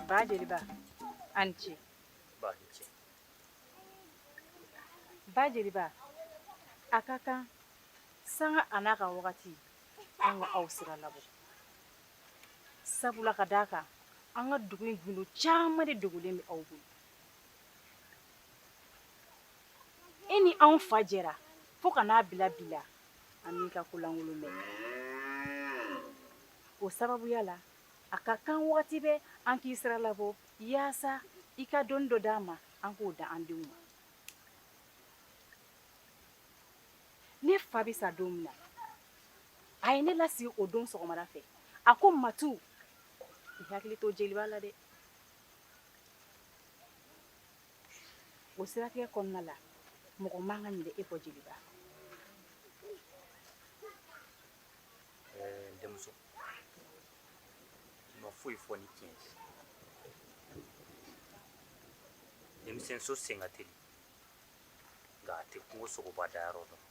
Ba jeli ba an ce. Ba ni ce. Ba jeli ba a ka kan sanga a n'a ka wagati an ka aw sira labɔ. sabula ka d'a kan an ka dugu in gundo caman de dogolen bɛ aw bolo e ni anw fa jɛra fo ka n'a bila bi la an m'i ka ko lankolon mɛn o sababuya la a ka kan wagati bɛɛ an k'i sira labɔ yaasa i ka dɔnni dɔ d'an ma an k'o da an denw ma ne fa bɛ sa don min na a ye ne lasigi o don sɔgɔmada fɛ a ko Matu i hakili to jeliba la dɛ o siratigɛ kɔnɔna la mɔgɔ man ka ɲinɛ e kɔ jeliba ɛɛ denmuso ma foyi fɔ ni tiɲɛ tɛ denmisɛnso sen ka teli nka a tɛ kungo sogoba dayɔrɔ dɔn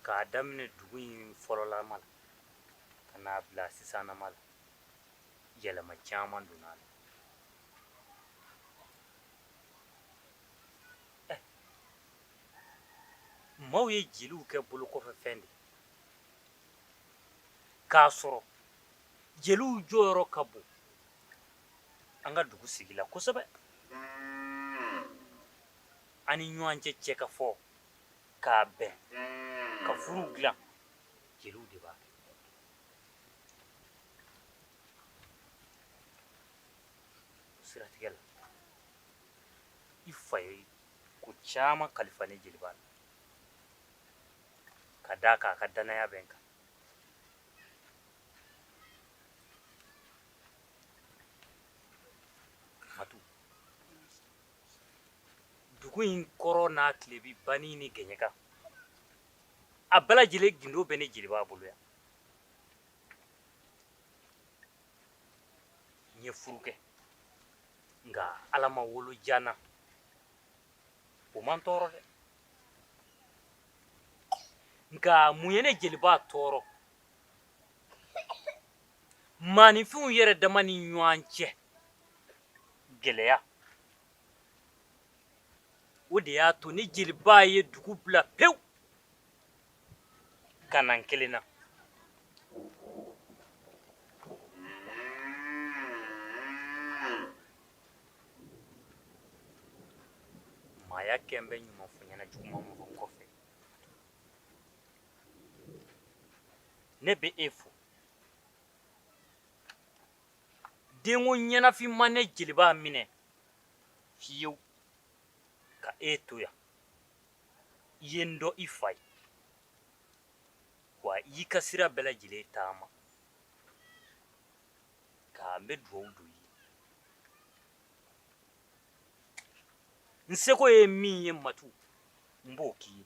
k'a daminɛ dugu in fɔlɔlama la ka n'a bila sisanama la yɛlɛma caman donna a la eh. maaw ye jeliw kɛ bolokɔfɛfɛn de k'a sɔrɔ jeliw jɔyɔrɔ ka bon an ka dugu sigi la kosɛbɛ an ni ɲɔgɔn cɛ cɛ ka fɔ k'a bɛn ka furuw dilan jeliw de b'a kɛ o siratigɛ la i fa ye ko caman kalifa ne jeliba la ka d'a kan a ka dannaya bɛ n kan Matu. Dugu in kɔrɔn n'a tilebin banni ni gɛɲɛka a bɛɛ lajɛlen gindo bɛ ne jeliba bolo yan n ye furu kɛ nka ala ma wolo ja n na o ma n tɔɔrɔ dɛ nka mun ye ne jeliba tɔɔrɔ maaninfinw yɛrɛ dama ni ɲɔgɔn cɛ gɛlɛya o de y'a to ne jeliba ye dugu bila pewu ka na n kelen na maaya kɛlen bɛ ɲuman fɔ ɲɛna juguman fɔ kɔfɛ ne bɛ e fo denko ɲɛnafin ma ne jeliba minɛ fiyewu ka e to yan i ye n dɔn i fa ye wa i y'i ka sira bɛɛ lajɛlen taama ka n bɛ dugawu don i ye n seko ye min ye matu n b'o k'i ye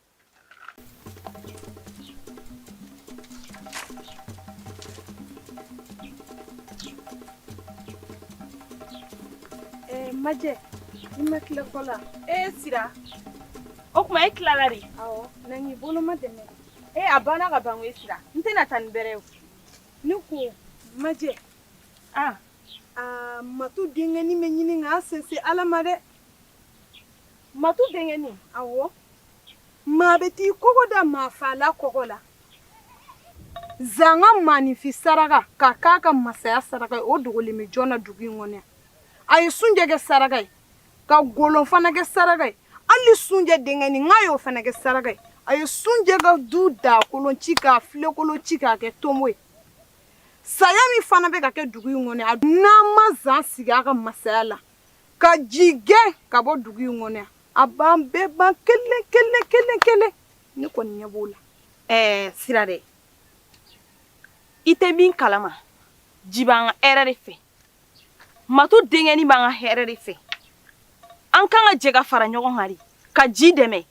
majɛ i ma tila ko la e sira o tuma e tilala de awɔ na ne bolomadɛmɛ e a banna ka ban e sira n tɛna taa ni n bɛrɛ ye ne ko majɛ a a matu denkɛni bɛ ɲini k'a sinsin ala ma dɛ matu denkɛni awɔ maa bɛɛ t'i kɔgɔ da maafaala kɔgɔ la zan ka maaninfin saraka ka k'a ka masaya saraka ye o dogolen bɛ jɔn na dugu in kɔnɔ yan a ye sunjɛ kɛ saraka ye ka golon fana kɛ saraka ye hali sunjɛ denkɛnin k'a y'o fana kɛ saraka ye a ye sunjɛ ka du dakolon ci ka filenkolon ci k'a kɛ tonbo ye saya min fana bɛ ka kɛ dugu in kɔnɔ yan n'an ma zan sigi a ka masaya la ka ji gɛn ka bɔ dugu in kɔnɔ yan a b'an bɛɛ ban kelen kelen kelen kelen ne kɔni ɲɛ b'o la ɛɛ sira dɛ i tɛ min kalama ji b'an ka hɛrɛ de fɛ matu denkɛni b'an ka hɛrɛ de fɛ an kan ka jɛ ka fara ɲɔgɔn kan de ka ji dɛmɛ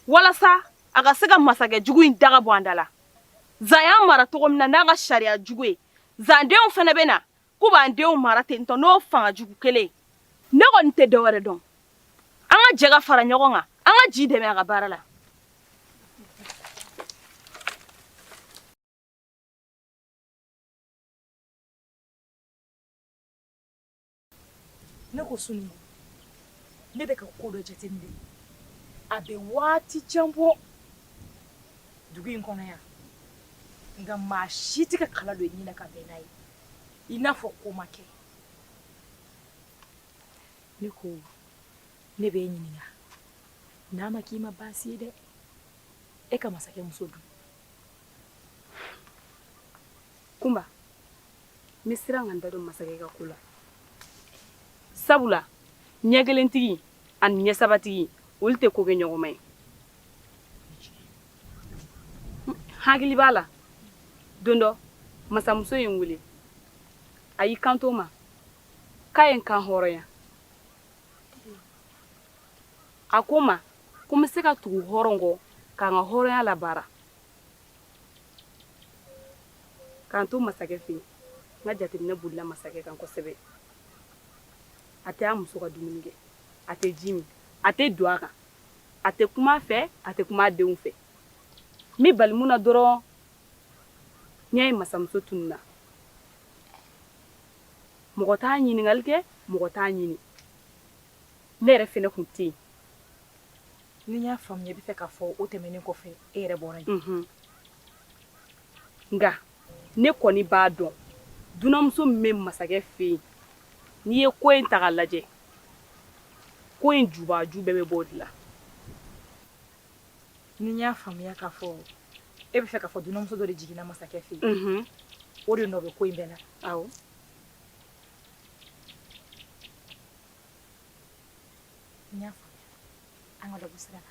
walasa a ka se ka masakɛ jugu in daga bɔ an da la zan y'an mara cogo min na n'a ka sariya jugu ye zan denw fana bɛ na k'u b'an denw mara ten tɔ n'o fanga jugu kelen ne kɔni tɛ dɔwɛrɛ dɔn an ka jɛ ka fara ɲɔgɔn kan an ka ji dɛmɛ a ka baara la ne ko sunu ne bɛ ka ko dɔ jateminɛ a bɛ waati jan bɔ dugu in kɔnɔ yan nka maa si tɛ ka kala don i ɲinɛ ka bɛn n'a ye i n'a fɔ ko ma kɛ ne ko ne bɛ e ɲininka n'a ma k'i ma baasi ye dɛ e ka masakɛ muso dun kunba n bɛ siran ka n da don masakɛ ka ko la sabula ɲɛ kelentigi ani ɲɛ sabatigi olu tɛ ko kɛ ɲɔgɔn ma ye hakili b'a la don dɔ masamuso ye n wele a y'i kanto n ma k'a ye n kanhɔrɔnya a ko n ma ko n bɛ se ka tugu hɔrɔn kɔ ka n ka hɔrɔnya labaara ka n to masakɛ fɛ yen n ka jateminɛ bolila masakɛ kan kosɛbɛ a tɛ a muso ka dumuni kɛ a tɛ ji min a tɛ don a kan a tɛ kuma a fɛ a tɛ kuma denw fɛ ne balila min na dɔrɔn n ye masamuso tununna mɔgɔ t'a ɲininkali kɛ mɔgɔ t'a ɲini ne yɛrɛ fana tun tɛ yen ni n y'a faamuya i b'a fɛ k'a fɔ o tɛmɛnen kɔfɛ e yɛrɛ bɔra nka ne kɔni b'a dɔn dunanmuso bɛ masakɛ fɛ yen n'i ye ko in ta k'a lajɛ ko in jubaju bɛɛ bɛ bɔ o de la ni n y'a faamuya k'a fɔ e b'a fɛ k'a fɔ dunanmuso dɔ de jiginna masakɛ fɛ yen o de nɔ bɛ ko in bɛɛ la awɔ n y'a faamuya an ka dɔ bɔ sira la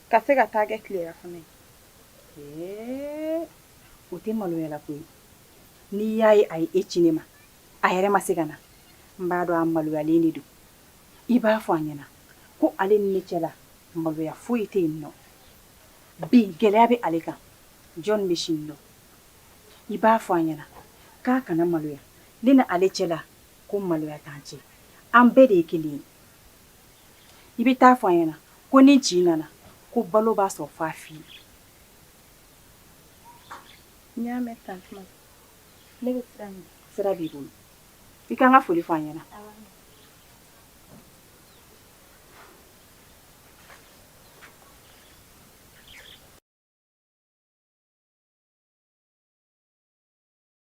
ka se ka t'a kɛ tilerafana ye o tɛ maloyala ko ye n'i y'a ye a ye e ci ne ma a yɛrɛ ma se ka na n b'a dɔn a maloyalen de don i b'a fɔ a ɲɛna ko ale ni ne cɛla maloya foyi tɛ yen nɔ bi gɛlɛya bɛ ale kan jɔn bɛ sini dɔn i b'a fɔ a ɲɛna k'a kana maloya ne na ale cɛla ko maloya t'an cɛ an bɛɛ de ye kelen ye i bɛ t'a fɔ a ɲɛna ko ni ji nana ko balo b'a sɔrɔ fa fi ye n y'a mɛn tantuma ne bɛ sira ɲini sira b'i bolo i ka n ka foli fɔ a ɲɛna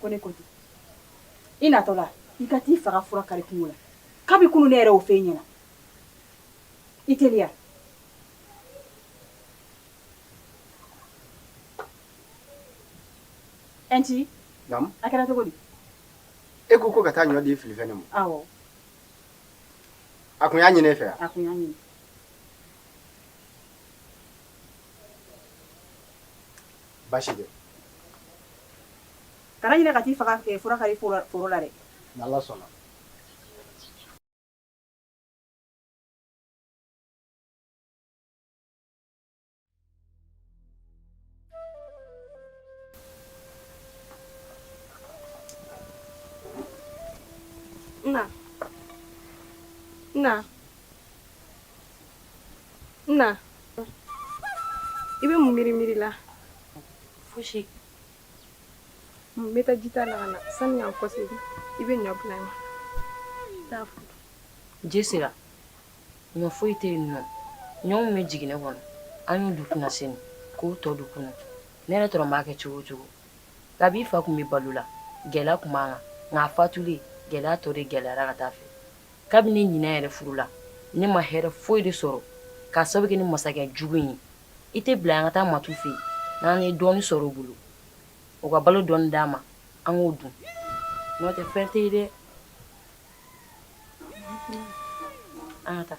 ko ne ko i natɔ la i ka t'i fa ka fura kari kungo la kabi kunu ne yɛrɛ y'o fɔ i ɲɛna i teliya ɛnti a kɛra cogo di e ko ko ka taa ɲɔ di filifɛnnin ma awɔ a kun y'a ɲini e fɛ a kun y'a ɲini baasi tɛ Kana ɲinɛ ka t'i faga ka fura kari foro la dɛ n'Ala sɔnna na na na i bɛ mun miiri miiri la fosi n bɛ taa jita la ka na sani n ka kɔsegi i bɛ ɲɔ bila n ɲɛ n t'a fɔ i ye Sera ɲɔ foyi tɛ yen o ɲɔ min bɛ jiginɛ kɔnɔ an y'o dun kunasini k'o tɔ dun kunun ne yɛrɛ tɔrɔ b'a kɛ cogo cogo kabi i fa tun bɛ balo la gɛlɛya tun b'an kan nka a fatulen gɛlɛya tɔ de gɛlɛyara ka taa a fɛ kabini ne yɛrɛ furula ne ma hɛrɛ foyi de sɔrɔ k'a sababu kɛ nin masakɛ jugu ye i t'a bila an ka taa Matu fɛ yen n'an ye dɔɔnin sɔrɔ u bolo u ka balo dɔ d'an ma an k'o dun n'o tɛ fɛn tɛ dɛ an taa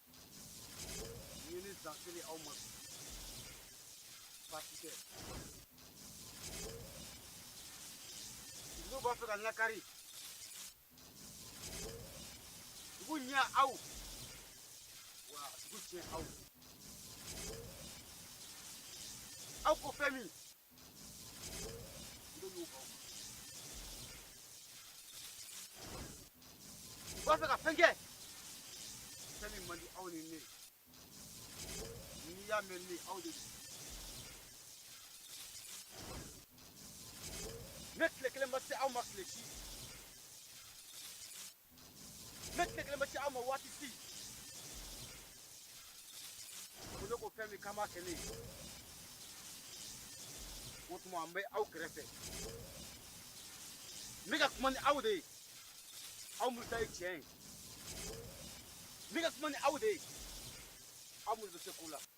Yeni dakili aw ma. Pasike. Dugu b'a fɛ ka lakari. Dugu ɲɛ aw. Wa dugu tiɲɛ aw. Aw ko fɛn min. B'a fɛ ka fɛn kɛ fɛn min man di aw ni ne n'i y'a mɛn ni aw de don ne tile kelen ma se aw ma tile si ne tile kelen bɛ ci aw ma waati si ko ne ko fɛn min kama kɛ ne ye o tuma an bɛ aw kɛrɛfɛ n bɛ ka kuma ni aw de ye aw minnu ta ye tiɲɛ ye n bɛ ka kuma ni aw de ye aw minnu bɛ se ko la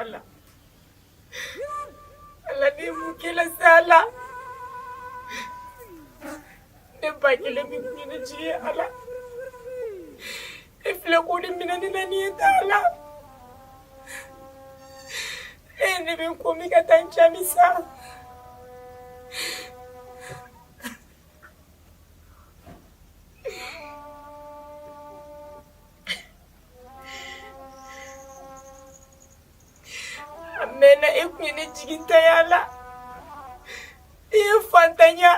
Allah Allah ne mu kila sala ne ba kila mi kina ji Allah ifle ko ni mina ni na ni ta Allah ne bɛ ko min ka taa n cɛ min sa a mɛnna e kun ye ne jigintanya la i ye fantanya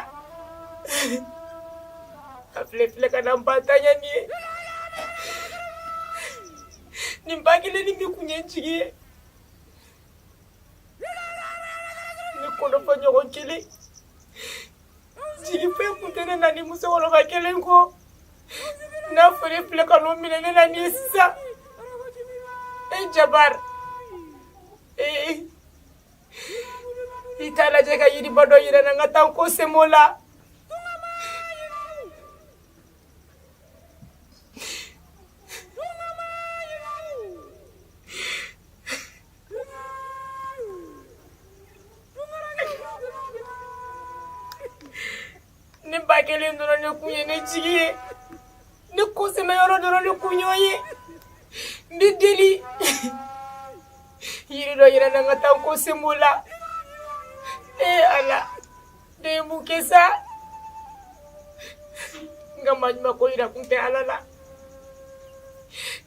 a filɛ filɛ ka na n ba ta nin ye ne ba kelen ni min kun ye n jigi ye ne kɔrɔfɔɲɔgɔn kelen jigi foyi kun tɛ ne na ni musokɔrɔba kelen kɔ n'a fɔra e filɛ ka n'o minɛ ne na ni ye sisan e jabari ee i t'a lajɛ ka yiriba dɔ yira n na n ka taa n kɔ sɛmɛ o la ne ba kelen dɔrɔn ne kun ye ne jigi ye ne kɔsɛmɛyɔrɔ dɔrɔn ne kun y'o ye n b'i deli yiri dɔ yira n na n ka taa n kɔ sɛmɛ o la ee ala Ne bɛ mun kɛ sa n ka maɲumako jira kun tɛ ala la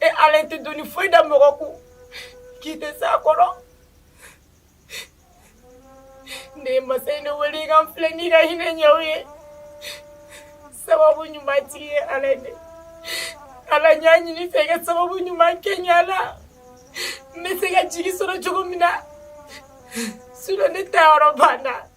e ala tɛ doni foyi da mɔgɔ kun k'i tɛ se a kɔrɔ ne ye masa ne wele i ka n filɛ n'i ka hinɛ ɲɛw ye sababu ɲuman tigi ye ala de ala n y'a ɲini i fɛ i ka sababu ɲuman kɛ n ye ala n bɛ se ka jigi sɔrɔ cogo min na ne taayɔrɔ banna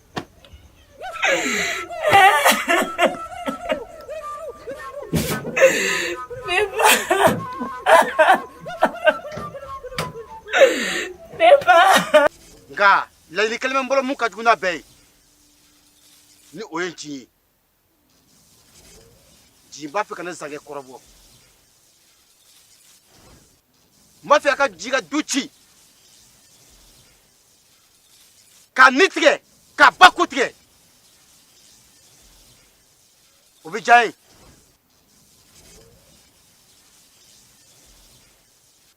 nka laɲini kelen bɛ n bolo mun ka jugu n'a bɛɛ ye ni o ye nci ye nci b'a fɛ ka na zankɛ kɔrɔbɔ n b'a fɛ a ka ji ka du ci ka ni tigɛ ka ba ko tigɛ o bɛ diya ye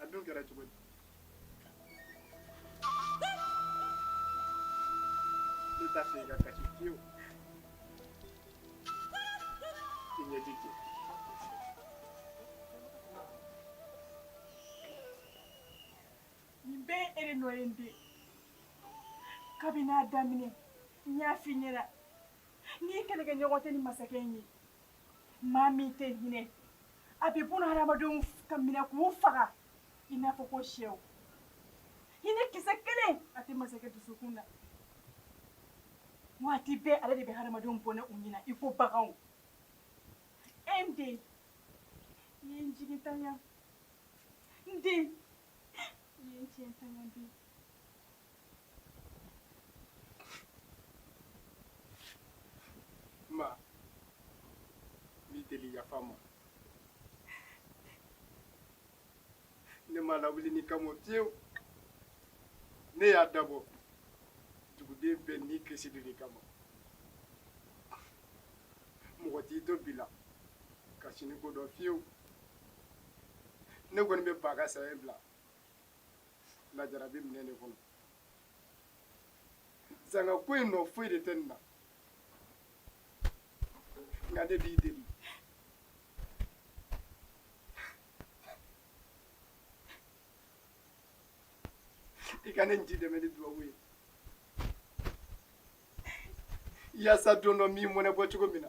a dun kɛra cogo di ne t'a fɛ i ka kasi fiyewu i ɲɛ ti ten nin bɛɛ ye e de nɔ ye n den kabini a daminɛ n y'a f'i ɲɛna ne kɛlɛkɛɲɔgɔn tɛ nin masakɛ in ye Maa min tɛ hinɛ a bɛ bon hadamadenw kan minɛ k'u faga i n'a fɔ ko shɛw hinɛ kisɛ kelen a tɛ masakɛ dusukun na waati bɛɛ ale de bɛ hadamadenw bɔnɛ u ni na i ko baganw n den i ye n jigintanya n den i ye n jigintanya dɛ m'a lawuli nin kama fiyewu ne y'a dabɔ duguden bɛɛ ni kisi de kama mɔgɔ t'i to bi la ka sini ko dɔn fiyewu ne kɔni bɛ ba ka saya bila lajara bɛ minɛ de kɔnɔ zanga ko in nɔ foyi de tɛ n na nka ne b'i deli i ka ne de dɛmɛ ni dubawu ye yaasa don dɔ n bɛ mɔnɛ bɔ cogo min na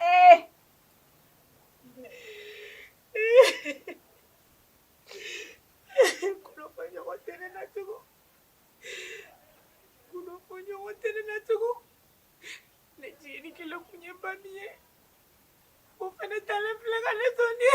Eh! Kɔnɔfɔɲɔgɔn tɛ ne na tugu. Kɔnɔfɔɲɔgɔn tɛ ne na tugu. Ne jigini kelen kun ye ba min ye, o fana talen filɛ ka ne to nin ye.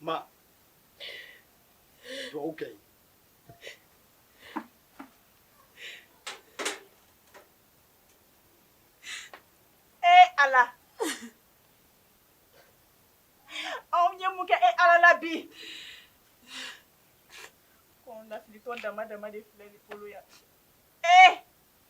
Ma, you're okay. Ee Ala aa n ye mun kɛ e Ala la bi kɔnɔnafilitɔ dama dama de filɛ ne bolo yan ee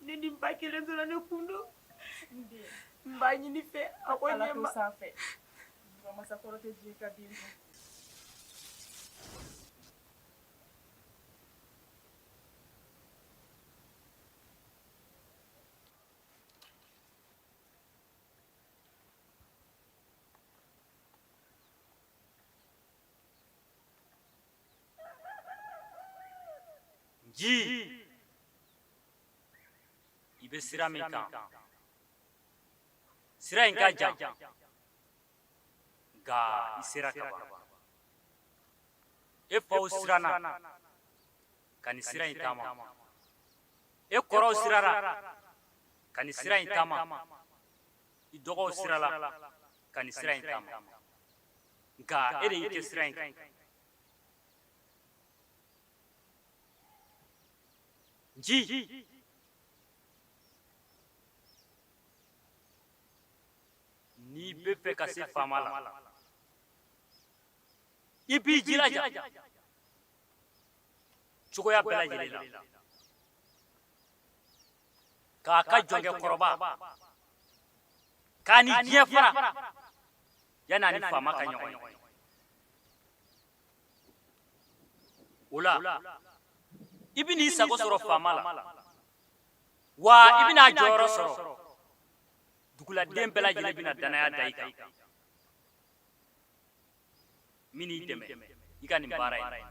ne ni ba kelen dɔrɔn ne kun don n b'a ɲini i fɛ a ko ɲɛma sanfɛ masakɔrɔ tɛ diɲɛ ka den dɔn ji i bɛ sira min kan sira in ka jan nka i sera k'a ban e faw siranna ka nin sira in taama e kɔrɔw sirara ka nin sira in taama i dɔgɔw sirala ka nin sira in taama nka e de y'i kɛ sira in kan nji n'i b'a fɛ ka se faama la i b'i jilaja cogoya bɛɛ lajɛlen la k'a ka jɔnkɛ kɔrɔba k'a ni diɲɛ fara yanni a ni faama ka ɲɔgɔn ye o la i bɛn'i sago sɔrɔ faama la wa i bɛna a jɔyɔrɔ sɔrɔ duguladen bɛɛ lajɛlen bɛna danaya da i kan n bɛn'i dɛmɛ i ka nin baara in na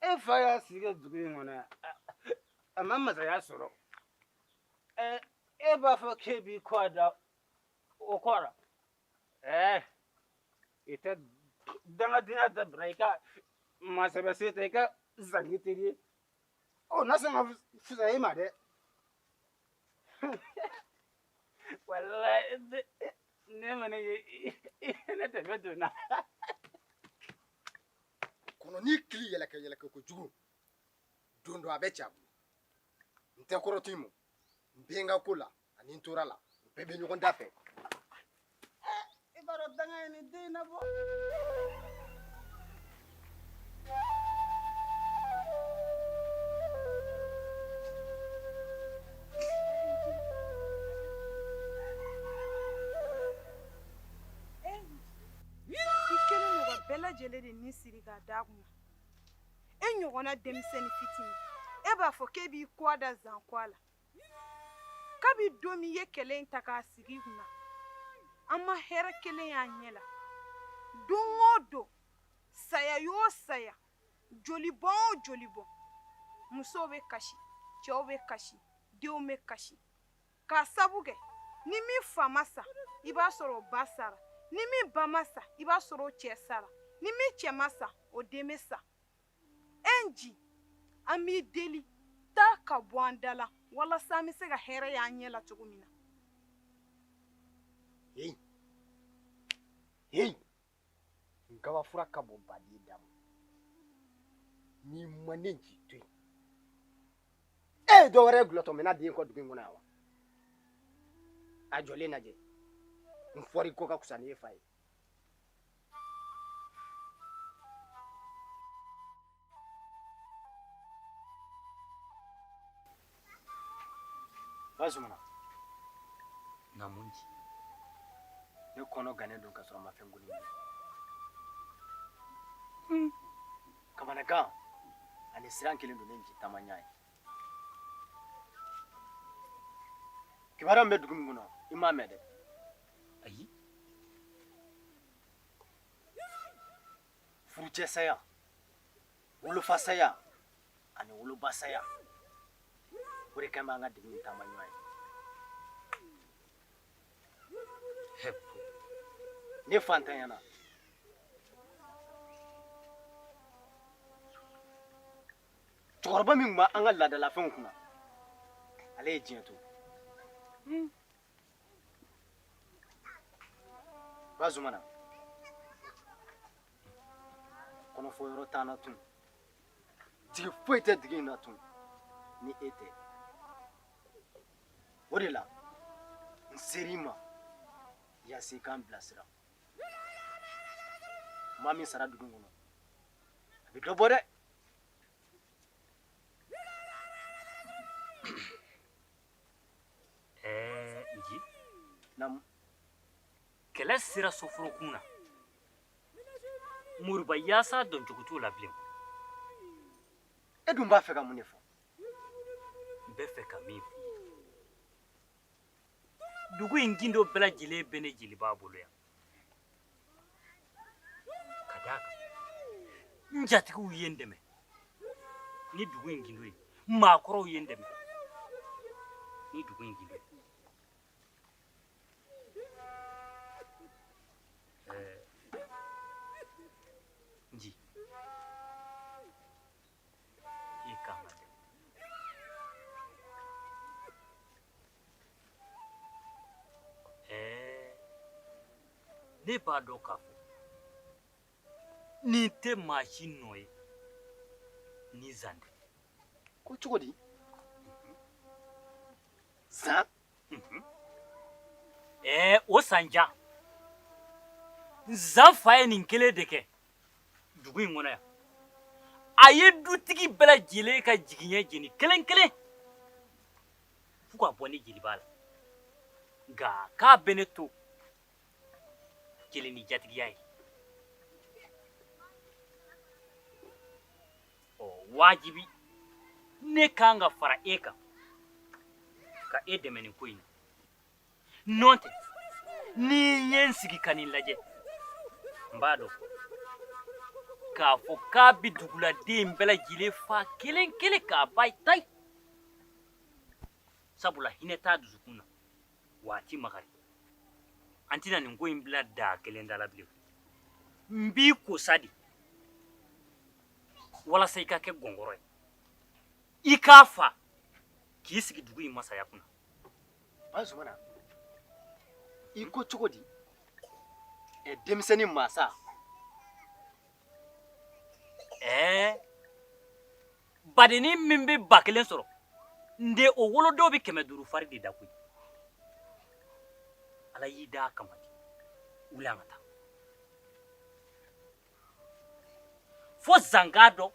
e fa y'a sigi kɛ dugu in kɔnɔ yan a ma masaya sɔrɔ e b'a fɔ k'e b'i kɔ da o kɔ la ɛɛ i tɛ dangadenya dabila i ka masɛbɛ se tɛ i ka zan k'i teri ye o na sɔn ka fisaya i ma dɛ walayi ne kɔni ye ne dɛmɛ donna kɔnɔnin kili yɛlɛkɛ yɛlɛkɛ kojugu don dɔ a bɛ ci a bolo n tɛ kɔrɔtɔ i ma n bɛ n ka ko la ani n tora la u bɛɛ bɛ ɲɔgɔn da fɛ i b'a dɔn danga ye nin den na bɔ lajɛlen de ni siri ka da kun e ɲɔgɔnna denmisɛnnin fitinin e b'a fɔ k'e b'i kɔ da zan kɔ la kabi don min i ye kɛlɛ in ta k'a sigi kun an ma hɛrɛ kelen y'an ɲɛ la don o don saya yo saya joli bɔn o joli bɔn musow bɛ kasi cɛw bɛ kasi denw bɛ kasi k'a sabu kɛ ni min fa ma sa i b'a sɔrɔ o ba sara ni min ba ma sa i b'a sɔrɔ o cɛ sara ni min cɛ ma sa o den bɛ sa e nci an b'i deli taa ka bɔ an da la walasa an bɛ se ka hɛrɛ y'an ɲɛ la cogo min na. Hey. Hey. nkabafura ka bon baden da ma n'i ma ne nci to yen e ye dɔ wɛrɛ kulotɔ mɛn a den kɔ dugu in kɔnɔ yan wa a jɔlen lajɛ n fɔri ko ka fisa ni e fa ye bazumana naamu nci ne kɔnɔ gannen don ka sɔrɔ a ma fɛn goni hmm. kamanagan ani siran kɛlen don ne nci taama ɲa ye kibaruya min bɛ dugu in kɔnɔ i m'a mɛn dɛ ayi furucɛ saya wolofa saya ani woloba saya o de kɛlen b'an ka dugu in taama ɲa ye ne fantanyana cɛkɔrɔba min tun b'an ka laadalafɛnw kunna ale ye diɲɛ to bazumana kɔnɔfɔ yɔrɔ t'an na tun jigi foyi tɛ dugu in na tun ni e tɛ o de la n ser'i ma yaasa i k'an bilasira maa min sara dugu kɔnɔ a bɛ dɔ bɔ dɛ Ɛɛ nci naamu kɛlɛ sera soforokun na moriba yaasa dɔncogo t'o la bilen e dun b'a fɛ ka mun de fɔ n b'a fɛ ka min f'i ye dugu in gindo bɛɛ lajɛlen bɛ ne jeliba bolo yan ka d'a kan n jatigiw ye n dɛmɛ ni dugu in gindo ye maakɔrɔw ye n dɛmɛ ni dugu in gindo ye ne b'a dɔn k'a fɔ nin tɛ maa si nɔ ye ni zan tɛ ko cogo di zan ɛɛ o san jaa zan fa ye nin kelen de kɛ dugu in kɔnɔ yan a ye dutigi bɛɛ lajɛlen ka jigiɲɛ jeni kelen kelen fo ka bɔ ne jeliba la nka k'a bɛ ne to kelen ni jatigiya ye ɔ wajibi ne kan ka fara e kan ka e dɛmɛ nin ko in na nɔntɛ ni n ye n sigi ka nin lajɛ n b'a dɔn k'a fɔ k'a bɛ duguladen bɛɛ lajɛlen fa kelen kelen k'a ban tayi sabula hinɛ t'a dusukun na wa a ti makari an tɛna nin ko in bila daa kelen da la bilen n b'i ko sa de walasa i ka kɛ gɔngɔrɔ ye i k'a fa k'i sigi dugu in masaya kunna bazumana i ko cogo di ɛ denmisɛnnin masa ɛɛ badennin min bɛ ba kelen sɔrɔ n den o wolodon bɛ kɛmɛ duuru fari de da koyi ala y'i da a kama de wuli an ka taa fo zan k'a dɔn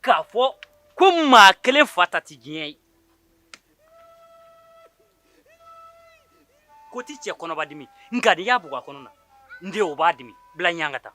k'a fɔ ko maa kelen fa ta tɛ diɲɛ ye ko tɛ cɛ kɔnɔba dimi nka n'i y'a bugɔ a kɔnɔ na n den o b'a dimi bila ɲɛ an ka taa